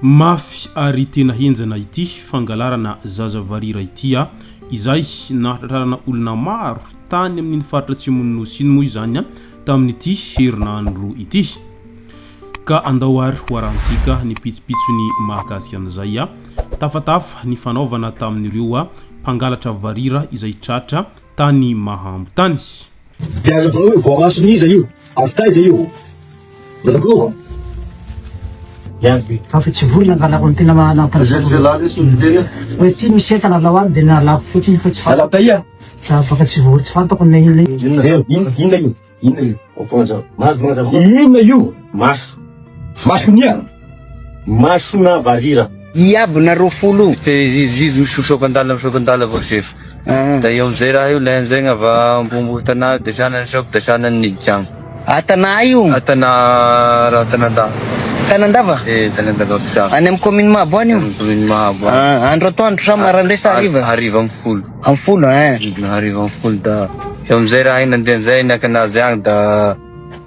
Mafy ary tena henjana ity fangalarana zaza varira ity a! Izay nahatratrarana olona maro tany amin'iny faritra atsimon'ny Nosy iny moa izany tamin'ity herinandro ity. Ka andao ary hoarahantsika ny pitsopitsony mahakasika an'izay. Tafatafa ny fanaovana tamin'ireo mpangalatra varira izay tratra tany Mahambo tany. Dia aza atao hoe voamason'iza io? Avy taiza io? Razamploo? Aho fa tsy vonona hangalako ny tena nampalazako. Hoe ity misy entana alao any dia nalako fotsiny fa tsy fantako. Alao taia? Za baka tsy vory tsy fantako na inona inona. Eo, inona inona io? Inona io? Mahazo mazava. Inona io? Maso. Mason'ian? Masona varira. Iab nareo folo. Fe izy izy izy misotra ampandala misotra ampandala vao sefo ah. Da eo amizay raha io lay amizay gnava ambombo tana de sanany sao da sanany ny jam. Ah tana ai io? Ah tana raha tanandava. Tanandava? Eh tanandava Bosava. Any am commune Mahabo any io? Commune Mahabo. Ah andro atoandro sa marandrae sa hariva? Hariva am folo. Am folo eh. Hariva am folo da eo amizay raha iny nandeha amizay naka anazy agny da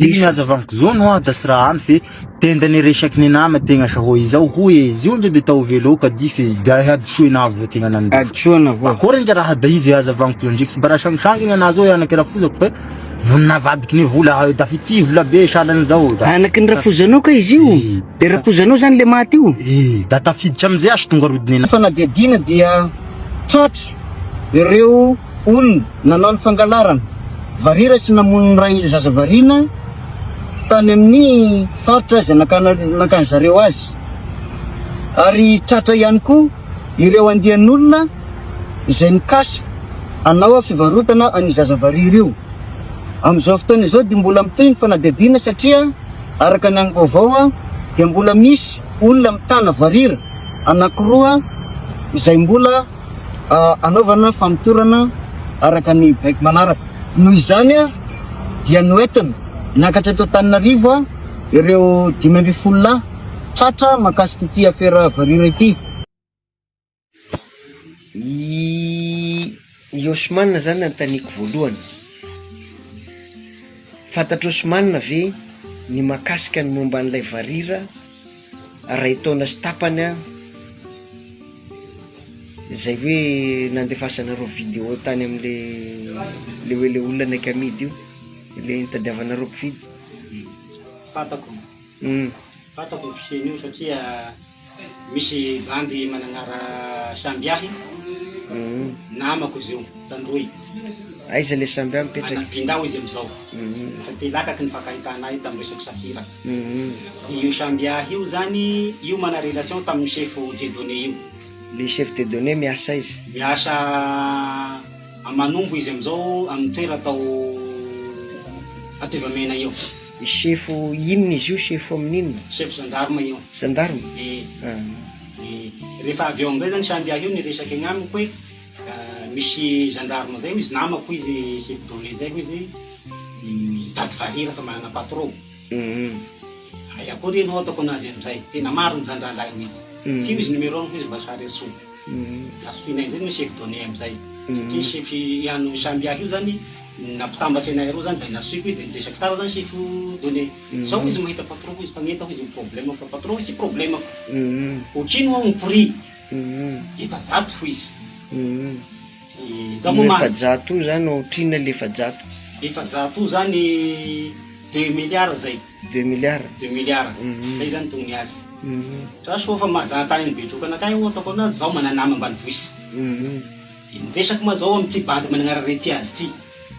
Io ny aza vaniko zao no ada sy raha any fe tenda ny resaky ny nama tegna sa hoe izao hoe zio ndray de tao velo ka di fe gahy hadisoa na avoa tegna nan hadisoa na avoa akora ndra raha da izy aza vaniko zao ndreky sy bara sang sang ny ana zao e anaky rafozako fe vonina vadiky ny vola hayo da fiti vola be salan zao da anaky ny rafozanao ka izy io de rafozanao zany le maty io e da tafiditra amizay asy tonga rodiny na fanadihadiana dia tratra ireo Olona nanao ny fangalarana varira sy namono ny rain'ilay zaza variana tany amin'ny faritra izay nakana nankany zareo azy. Ary tratra ihany koa ireo andian'olona izay mikasa hanao fivarotana an'io zaza varira io. Amin'izao fotoana izao dia mbola mitohy ny fanadihadiana satria araka ny angom-baovao dia mbola misy olona mitana varira anankiroa izay mbola hanaovana famotorana araka ny baiko manaraka. Noho izany dia noentina niakatra eto Antananarivo ireo dimy ambin'ny folo lahy tratra mahakasika ity afera varira ity. I Osman izany anontaniako voalohany, fantatr'i Osman ve ny mahakasika ny momba an'ilay varira? Iray taona sy tapany aho izay hoe nandefasanareo video tany amin'le le hoe le olona anaiky amidy io le nitadiavanareo mpividy Fantako, hum fantako io fisiany io satria misy bandy mananara samby ahy namako izy io tandroy, aiza le samby ahy mipetraka? Manam-binda hoy izy amizao, efa te hilakaky ny fankahitana ahy tamin'ny resaka safira. Io Shambiah io zany io mana relation tamin'ny chef Dieudonné io. Le chef Dieudonné miasa aiza? Miasa a Manombo izy amizao aminy toera tao Atovamena eo. Chef inona izy io? Chef amin'ny inona? Chef gendarme io. Gendarme? Ee. Ee. Rehefa avy eo amizay zany Shambiah io niresaka egnamiko hoe. Misy gendarme zay hoy izy namako hoy izy chef de relais zay hoy izy mitady varira fa manana patro hay akory ianao ataoko anazy amizay tena marina zany rangahy hoy izy tsy hoy izy numero-ny hoy izy mba sary antsoy ka antsoinay amizay ny chef done amizay satria chef an'ny samby ahy io zany nampitambatra anay roa zany de nantsoiko izy de niresaka tsara zany chef done zao izy mahita patro-ko izy mpanentana izy ny probleme fa patro-ko izy tsy probleme-ko otrino hono ny prix Efajato hoy izy. Io efajato io zany ohatrinona ilay efajato? Efajato io zany deux milliards zay. Deux milliards? Deux milliards. Zay zany toy ny azy. Tra soa fa mahazana tany any Betrokana akany aho ataoko an'azy zaho manana nama ambanivohitra. Dia ny resako ma zao amin'ity bandy mananara Retiaz ity.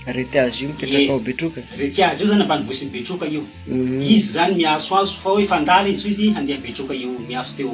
Retiaz io mipetraka ao Betroka? Retiaz io zany ambanivohisin'i Betroka io. Izy zany miantsoantso fa hoe fandala izy hoy izy handeha Betroka io miantso teo.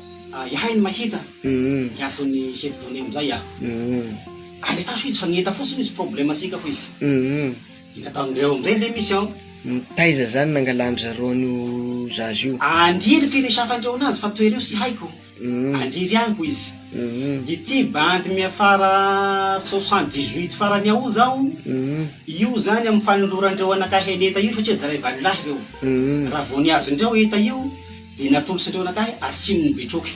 Ihay no mahita ny asan'ny chef donne amin'izay a! Alefaso izy fa ngita fotsiny izy problème sikako izy! Iny ataon'ireo amin'izay ilay mission. Taiza zany nangalan-dry zareo an'io zaza io? Andria ry firesafandreo anazy fa toereo sy haiko. Andria ry aniko izy. Ity bandy miafara soixante dix huit farany ao zao io zany amin'ny fanolorandreo anakahy an'Eta io satria zaray valilahy reo. Raha vao nihazo indray ao Eta io Dia natolotra teo anakahy ary tsinon'i Betroky.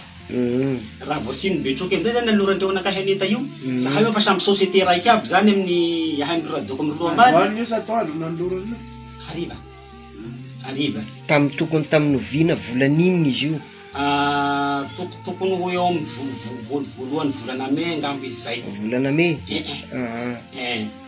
Raha vao tsinon'i Betroky amin'izay izany nanolorany teo anakahy an'Eta io, zahay efa samy société raika aby izany amin'ny ahay amin'i Radoko amin'i Roambary. Andro io sa atoandro no nanolorany io? Hariva. Hariva. Tamin'ny tokony tamin'ny oviana volana inona izy io? Toko tokony ho eo amin'ny voalohany volana Mai angamba izy izay. Volana Mai? Eh eh.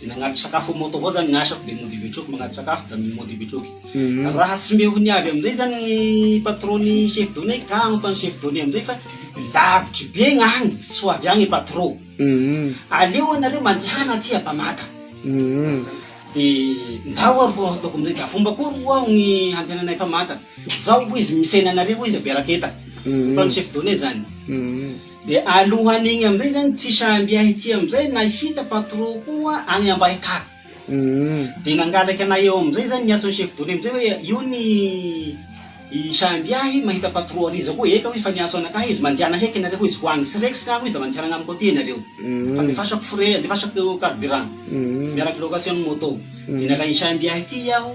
Dia nagnady sakafo am moto avao zany ny asako dia mody betroky magnady sakafo da mody betroky. Raha tsy mbe ho niavy amizay zany ny patron ny chef donne ka anontany chef donne amizay fa lavitry be ny agny tsy ho avy agny patron aleo anareo mandehana aty Ampamata dia ndao ary ho ataoko amizay da fomba akory hoa ny handehananay Ampamata zao hoy izy misena anareo hoy izy aperak eta anontany chef donne zany. De alohan igny amizay zany tsy samby ahy ty amizay nahita patron koa agny ambahitany de nangalaka anah eo amizay zany niasa ny chef dole amizay hoe io ny i samby ahy mahita patron ary iza koa eka hoy fa niasa anakahy izy mandiana heky nareo hoy izy ho agny srex ka hoy izy da mandiana agnamiko aty nareo fa andefasako frais andefasako carburant miaraky location ny moto de nalainy samby ahy ty aho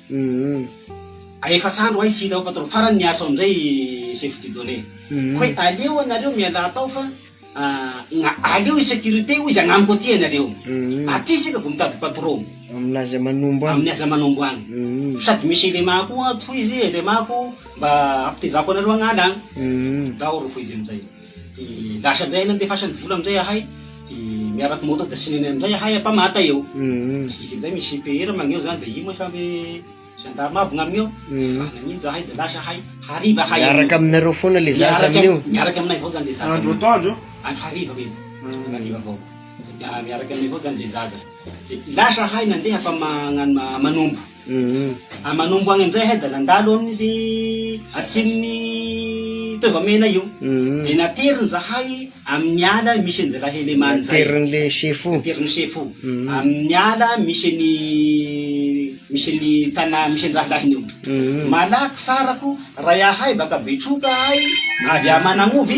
Hum efa sandry oay sila ao patron farany miasa ao amizay i chef du donne hoe aleo anareo mialà tao fa aleo i securite hoy izy agnamiko aty anareo aty isika vao mitady patron aminy aza manombo any aminy aza manombo any sady misy element koa ato hoy izy element ko mba ampitezako anareo agnala any dahoro hoy izy amizay Dia lasa indray ahay nandefasan'ny vola amin'izay ahay, dia miaraka moto dia sinenay amin'izay ahay ampamata eo. Dia izy amin'izay misy GPR maneho izany dia io moa samy gendarme aby ny amin'io ao, dia tsy raha nanino izahay dia lasa ahay, hariva ahay amin'io. Miaraka aminareo foana ilay zaza amin'io? Miaraka, miaraka aminay avao izany ilay zaza. Andro atoandro io? Andro hariva io, andro hariva avao. Dia miaraka aminay avao izany ilay zaza. Dia lasa ahay nandeha hampama-, hanombo. Manombo agny amizay hay da nandalo amin'ny atsimon'ny Toavamena io, de nateriny zahay amin'ny ala misy an'i Zalahelemany zay, naterin'le sefo, naterin'ny sefo amin'ny ala misy an'i, misy an'i tanà misy an'i rahalahiny eo, malaky sarako raha iahay baka Betroka ahay avy à Managnova,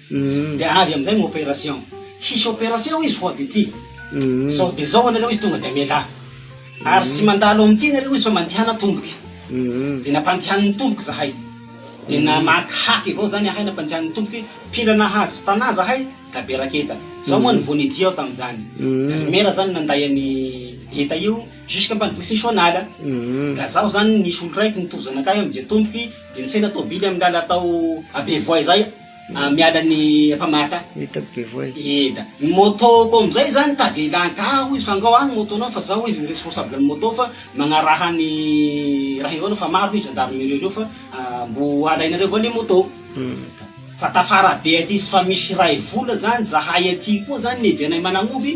Dia avy amin'izay ny operation. Hisy operation izy ho avy ety. Izao dia izao anareo izy tonga dia mialà. Ary tsy mandalo amin'ity ianareo izy fa mandehana tomboky. Dia nampandehaniny tomboky izahay. Dia namaky haky avao izany ahay nampandehaniny tomboky. Mpila nahazo tanà izahay, Gabe Raketa. Izao moa no vao nidia aho tamin'izany. Ry Mera izany nanday an'i Heta io jusque ampanovohisin'i Soanala. Ka izaho izany nisy olon-draiko nitohy zanakay amin'izay tomboky dia nisena tôbily amin'ny làla tao Abevoay izay. Miala ny mpamaritra Eda bevoay. Eda. Ny moto-ko amin'izay izany tavela an-ka hoy izy fa angao aho ny moto-nao fa zao hoy izy ny responsable-n'ny moto fa magnaraha ny raha ireo fa maro hoy gendarmerie ireo fa mbo alainareo avao le moto. Fa tafara be aty izy fa misy iray vola zany zahay aty koa zany ny evianay Managnofy.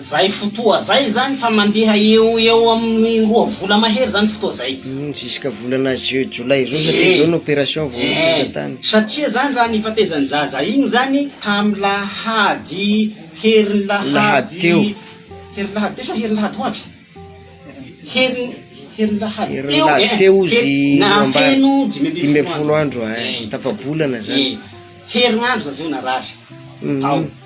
Zay fotoa zay zany fa mandeha eo ho eo amin'ny roa vola mahery zany fotoa zay. Hum, jusqu'à volana juin, jolay zao satria zao ny opération vao tonga tany. Eh, satria zany raha nifatezan'ny zaza igny zany tamin'ny lahady, herin'ny lahady, lahady teo, herin'ny lahady teo sa herin'ny lahady ho avy? herin'ny herin'ny lahady teo, herin'ny lahady teo izy nahafeno dimy ambin'ny folo andro, eh, tapa-bolana zany, herinandro zany zay narary tao.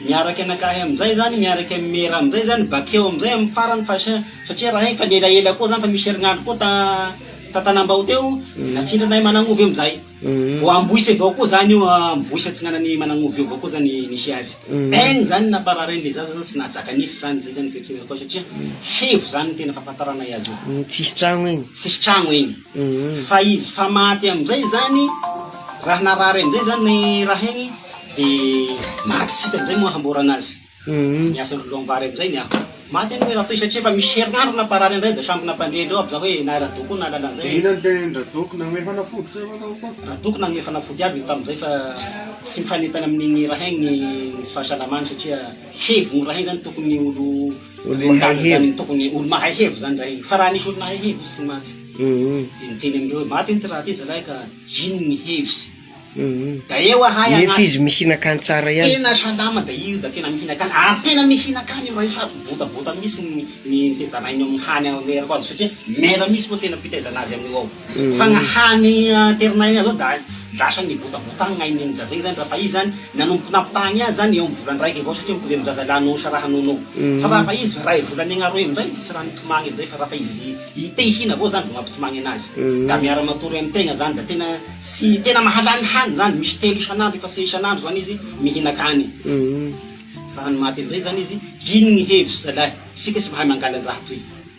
Miaraka anakahy amizay zany miaraka am mera amizay zany bakeo amizay am farany fa sa satria raha efa elaela koa zany fa misy herinandro koa ta tatanambao teo nafindra nahay managn'ovy amizay vao amboise vao koa zany io amboise atsinanany managn'ovy io vao koa zany nisy azy egny zany napararainy le zaza zany tsy nahazaka nisy zany zay zany fihetseham-po satria hevo zany ny tena fahafantaranay azy io tsisy tragno egny tsisy tragno egny. Fa izy fa maty amizay izany raha narary amizay izany ny raha igny de maty isika amizay moa hamborana azy ny asan'ny volom-bary amizay ny afo. Maty anie i Ratoy satria efa misy herinandro namparary an'ireo de sambina mpandre indreo aby za hoe na i Rado koa nahalala an'izay hoe. Inona ny tenin-dRadoko nanome fanafody sa inona hoy koa? Radoko nanome fanafody aby izy tamizay fa tsy mifanentana amin'igny raha igny ny fahasalamany satria hevign'io raha igny zany tokony olo Mahay hevo. Tokony olo mahay hevo zany raha iny. Fa raha nisy olo mahay hevo hotsiny mantsy. Dia niteny amindreo hoe, maty ity raha ity zalahy ka ino ny hevitsy? Da eo ahay agnaty. Nefa izy mihinan-kany tsara ihany. Tena salama da io da tena mihinan-kany. Ary tena mihinan-kany io raha io sady botabota mihitsy ny ny nitezanainy eo amin'ny hany anerako azy satria mera mihitsy moa tena fitaizana azy amin'io ao. Fa ny hany aterinainy azy ao da lasa nibotabotagna ny ain'igny zaza igny zany raha fa izy zany nanomboky nampitahagny azy zany eo amin'ny volan-draiky avao satria mitovy amin'ny zaza lahinao sa rahanao anao. Fa raha fa izy ray volany agnaroy amizay tsy raha mitomagny amizay fa raha fa izy te hihina avao zany vao mampitomagny anazy. Da miara matory amy tegna zany da tena tsy tena mahalany hany zany misy telo isan'andro efa tsy isan'andro zany izy mihinan-kany. Raha ny maha telo raiky zany izy, ino ny hevitry zalahy, isika tsy mahay mangalan-draha toy.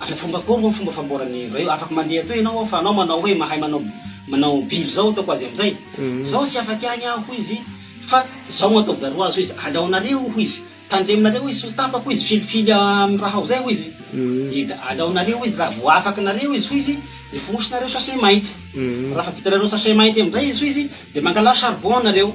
Ary fomba akory moa ny fomba famboaran'ny hevra io? Afaka mandeha atoy ianao ao fa anao manao hoe mahay manao manao bill izao ataoko azy amin'izay. Izaho tsy afaky agny aho hoy izy fa izao no ataovy aroa azy hoy izy, aleonareo hoy izy, tandremonareo hoy izy tsy ho tapaka hoy izy, filifily amin'ny raha ao izay hoy izy, dia aleonareo hoy izy raha vao afakinareo izy hoy izy dia fohosonareo sachet mainty, raha efa vitanareo sachet mainty amin'izay izy hoy izy dia mangalà charbon nareo.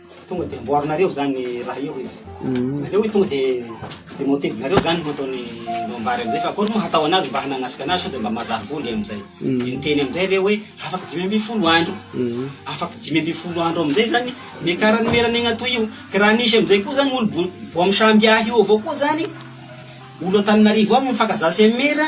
Tonga dia amboarinareo izany ny raha eo izy. Aleo tonga dia demontevinareo izany no ataony no ambara amin'izay fa akory moa hatao anazy mba hananasika anazy sao dia mba mazava voly amin'izay. Dia niteny amin'izay ireo hoe afaka dimy ambin'ny folo andro. Afaka dimy ambin'ny folo andro amin'izay izany ny ekara nomerana eny Antoy io. Ka raha nisy amin'izay koa izany olo-boampy samby hahy eo avao koa izany, olo Antananarivo ao mifankazaha sy amin'ny maire,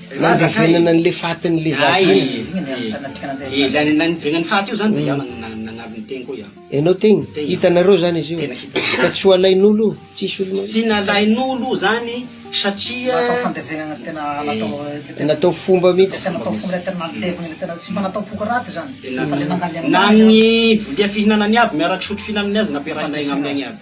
Nandevenana an'ilay fatin'ny lehilahy zany. Ee, ilay nandevenan'ny faty io zany dia iah nagnary ny tegniko iah. Ianao tegna? Hitanareo zany izy io? Tena hitanay. Fa tsy ho alain'olo io? Tsisy olo mahita? Tsy nalain'olo io zany satria. Natao fandevenana tena natao. Natao fomba mihitsy. Tena natao fomba ilay tena nalevina ilay tena tsy mba natao boka raty zany. Tena. Na ny vilia fihinanany aby miaraka sotro fihinanany aza nampiarahinay gn'aminay agny aby.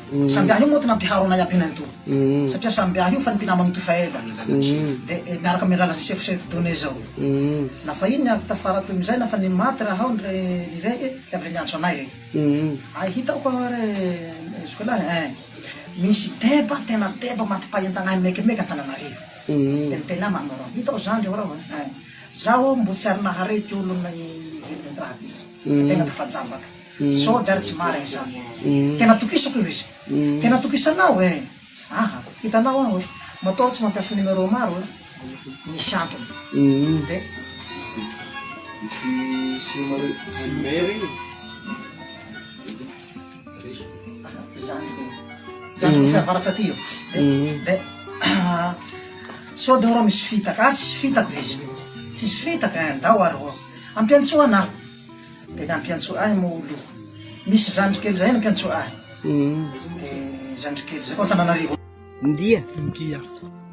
Samby ahy io mot nampiharo anay ampy nain to satria samby ahy io fa ny mpinama mitohy fa ela de miaraka amin alalan sefo sefo donne zao na fa iny ny avy tafara toy mizay na fa ny maty raha ao ndre ny rey e de avy re miantso anay re ay hitako aho ary jusque là ein misy deba tena deba matipahentanay mekimeky antananarivo de miteny ahy mamoron hitao zandry ao raho ein zaho mbo tsy ary nahare ty olon ny velona ndraty izy fa tena tafajambaka. Sôdy ary tsy marin izany. Tena tokisako io izy. Tena tokisanao eh! Aha, hitanao aho eh! Matoa aho tsy mampiasa numéro maro eh! Misy antony. Dia. Aha, izany ve. Zandriko fiavaratsy aty io. Dia. Sôdy eo rô misy fitaka. Ah, tsisy fitaka izy. Tsisy fitaka eh! Ndao ary rô. Ampiantsoana aho. Dia nampiantso ahy Moulou. Misy zandry kely izay nampiantso ahy. Dia zandry kely izay, ao Antananarivo. Ndia. Ndia.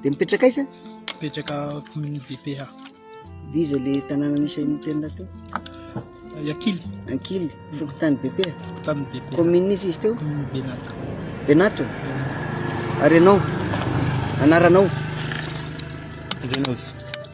Dia mipetraka aiza? Mipetraka commune BPA. Dia iza ilay tanàna nisy an'i Mitterrand teo? I Ankily. Ankily, fokontany BPA? Fokontany BPA. Commune izy izy teo? Commune Benato. Benato? Ary ianao? Anaranao? Renaud.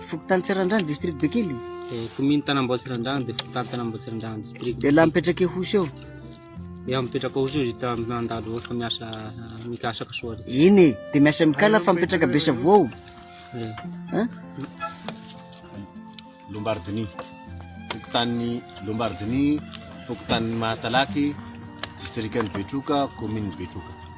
Fokontany Tsirandrano, district Bekily. Eh, commune Tanambao Tsirandrano, dia fokontany Tanambao Tsirandrano, district. Dia laha mipetraka Ihosy eo? Dia mipetraka Ihosy eo, dia mandalo eo, fa miasa mikasaka soa. Eny e, dia miasa mikala fa mipetraka Besavoa ao. Eh. Eh? Lombardini, fokontany Lombardini, fokontany Mahatalaky, district Betroka, commune Betroka.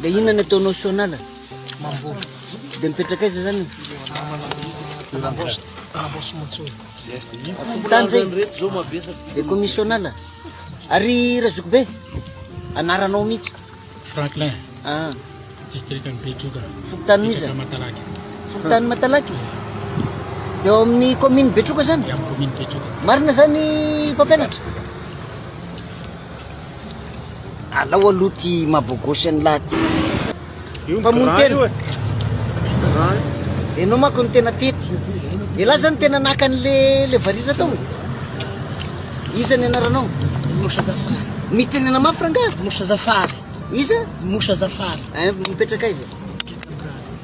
Dia inona ny ataonao Sonala? Mamboly. Tsy dia mipetraka aiza zany? Tany zay. Dia komi Sonala. Ary Razokibe? Anaranao mihitsy. Franklin. Ah. District an'i Betroka. Fokontany mizana. Matalaky. Fokontany Matalaky. Dia ao amin'ny commune Betroka zany? Amin'ny commune Betroka. Marina zany mpampianatra? Alao aloha ty mabogosy an'lah ty mpamono tena Enao manko no tena tety Elah zany tena naka an'le le varira tao Iza ny anaranao Moussa Zafary Mitenena mafy rangaha Moussa Zafary Iza Moussa Zafary Eh mipetraka aiza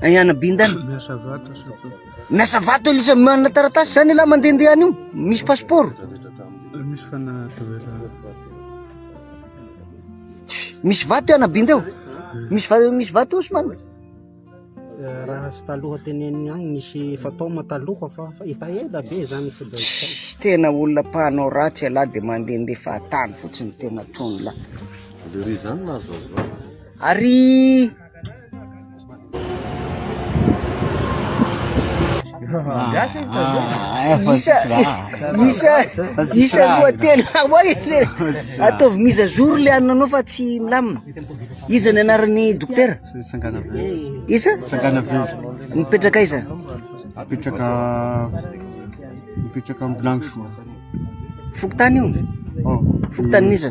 Ayana Bindan. Miasa vato soko. Miasa vato izy manana taratasy zany la mandehandeha any io. Misy passeport. Misy fana tavela. Misy vato ana Bindeo. Misy vato misy vato Osman. Raha sy taloha teneniny agny nisy fatoma taloha fa efa ela be zany fodai. Tena olona mpanao ratsy ala de mandehandeha fahatany fotsiny tena tony la. Ary Miasa ny tandreo. Isa isa isa roa telo awa le ataovy miza jour le ananao fa tsy milamina. Iza ny anaran'ny dokotera? Sangana Velo. Isa? Sangana Velo. Mipetraka iza? Mipetraka mipetraka Ambilangisoa. Fokontany io? Oh. Fokontany iza?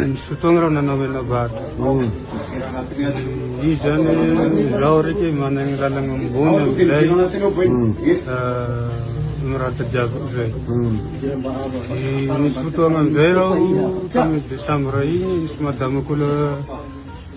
Nisy fotoagna reo nanao menabado. Izy zany izaho araiky managny lalagna ambony amizay miratadiaviko zay. Nisy fotoagna amizay reo tamy desambra igny nisy madama ko le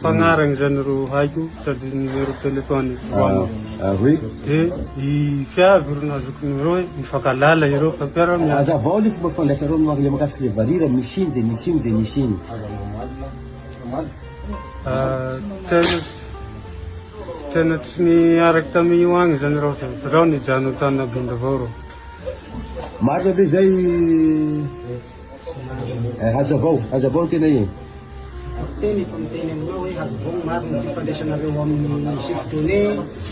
Mpagnaragna zany ro haiko sady numero telefony ah, ah, oui. Dia i fiavy ro nazoko numero hoe mifankalala ireo fa mpiara miasa. Azavao le fomba fandraisareo marle makasika le varira misy iny dia misy iny dia misy iny. Ah, tena tena tsy niaraka tamin'io agny zany rao zany fa rao nijano tany nabindavao rao. Marina be zay Eh, hazavao, hazavao tena e. Miteny efa miteny aminao hoe hazavao ny marina ny fifandraisanareo amin'ny chef donné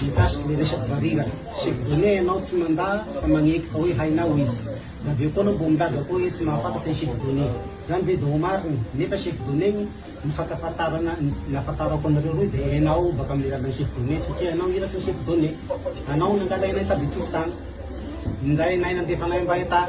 mikasika ny resaky barira. Chef donné ianao tsy mandà fa magneky fa hoe hainao izy. Dia avy eo koa anao vao milaza koa hoe tsy mahafantatra ny chef donné. Izany ve vao marina? Nefa chef donné ny ny fankafantarana ny nahafantarako anareo roa dia hainao baka amin'ny alalan'ny chef donné satria ianao iraka ny chef donné. Anao no nangalainay tamin'ny betrotany. Nindrainay nandefanay mba hetà.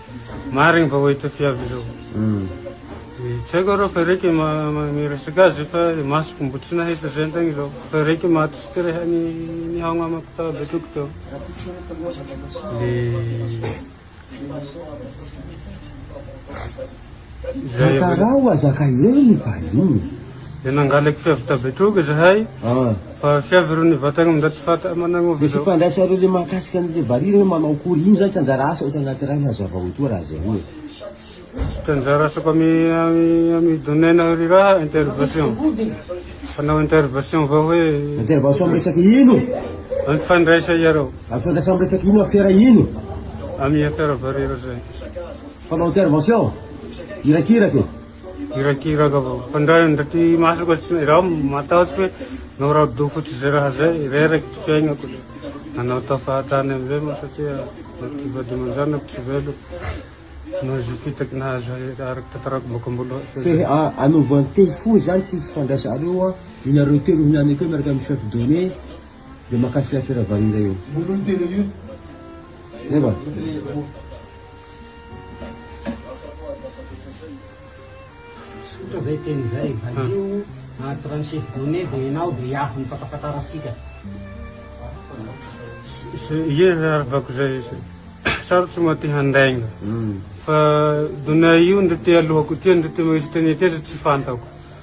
Marigny vao hita fiavy zao. Tsy haiko arô fa raiky miresaka azy fa masoko mbo tsy nahita zay tagny zao. Fa raiky maty sy ty reha nihaogna amako tao Betroky tao. Le Zay avy eo. Atarao azaka eo ny vahiny. Dia nangalako fiavy tabetroaka izahay fa fiavy roa nivatagna amin'izao tsy fantatra managn'ova izao. Ny fifandraisan'ireo le mahakasika an'ny le valiha hoe manao akory, ino izany tsy anjara asa ohatra anaty iray hazavao etoa raha zay hoe. Tsy anjara asako amy amy domaine ry raha intervention. Fanao intervention vao hoe. Intervention amy resaka ino? Amy fifandraisa iareo. Amy fifandraisa amy resaka ino afera ino? Amy afera valiha zay. Mpanao intervention irakiraka e. Irakiraka avao. Fa ndray ndray ty masoko tsy izaho matahotra hoe noradofo tsy zay raha zay, reraky ty fiaignako. Nanao tao fahatany amin'izay moa satria ty vady aman-janako tsy velona. Noho izay fitaky nahazo ahy araky tantarako boaka am-boalohany. Fe anova an-tehy fohy izany tsy fifandraisanareo an. Inareo telo ihany akeo miaraka amin'ny chef donné dia mahakasika afera valiha io. Zay va? Tsotra zay teny zay, valio anaty rano chef Done de enao de iaho ny fatafantara sika. Ie aravako zay sarotro ma te handainga fa Done io ndre te alohako tia ndre te mahisy teny tia tsy fantako.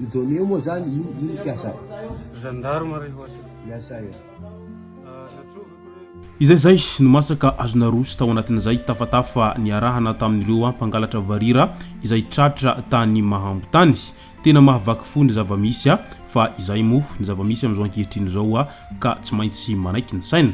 Io données io moa zany ino ino mpiasa ao? Gendarme ry hoatsa. Miasa eo. Izay zay no mask azo naroso tao anatin'izay tafatafa niarahana tamin'ireo mpangalatra varira izay tratra tany Mahango tany. Tena mahavaky fo ny zava-misy fa izay moa ny zava-misy amin'izao ankehitriny izao ka tsy maintsy manaiky ny saina.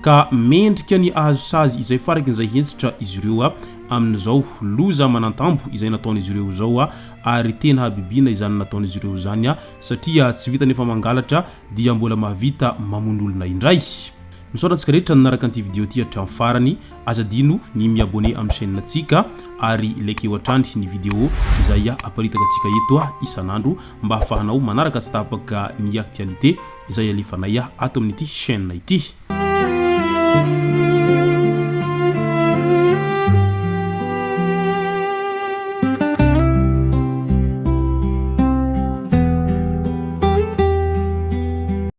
ka mendrika ny hahazo sazy izay farakin'izay hentitra izy ireo amin'izao loza manantambo izay nataon'izy ireo izao ary tena habibiana izany nataon'izy ireo izany satria tsy vita nefa mangalatra dia mbola mahavita mamono olona indray. Misaotra antsika rehetra nanaraka an'ity video ity hatramin'ny farany, aza adino ny mi abonner amin'ny chaîne antsika ary likeo hatrany ny video izay aparitaka antsika eto isan'andro mba hahafahanao manaraka tsy tapaka ny actualité. izay alefanay ato amin'ity chaîne ity.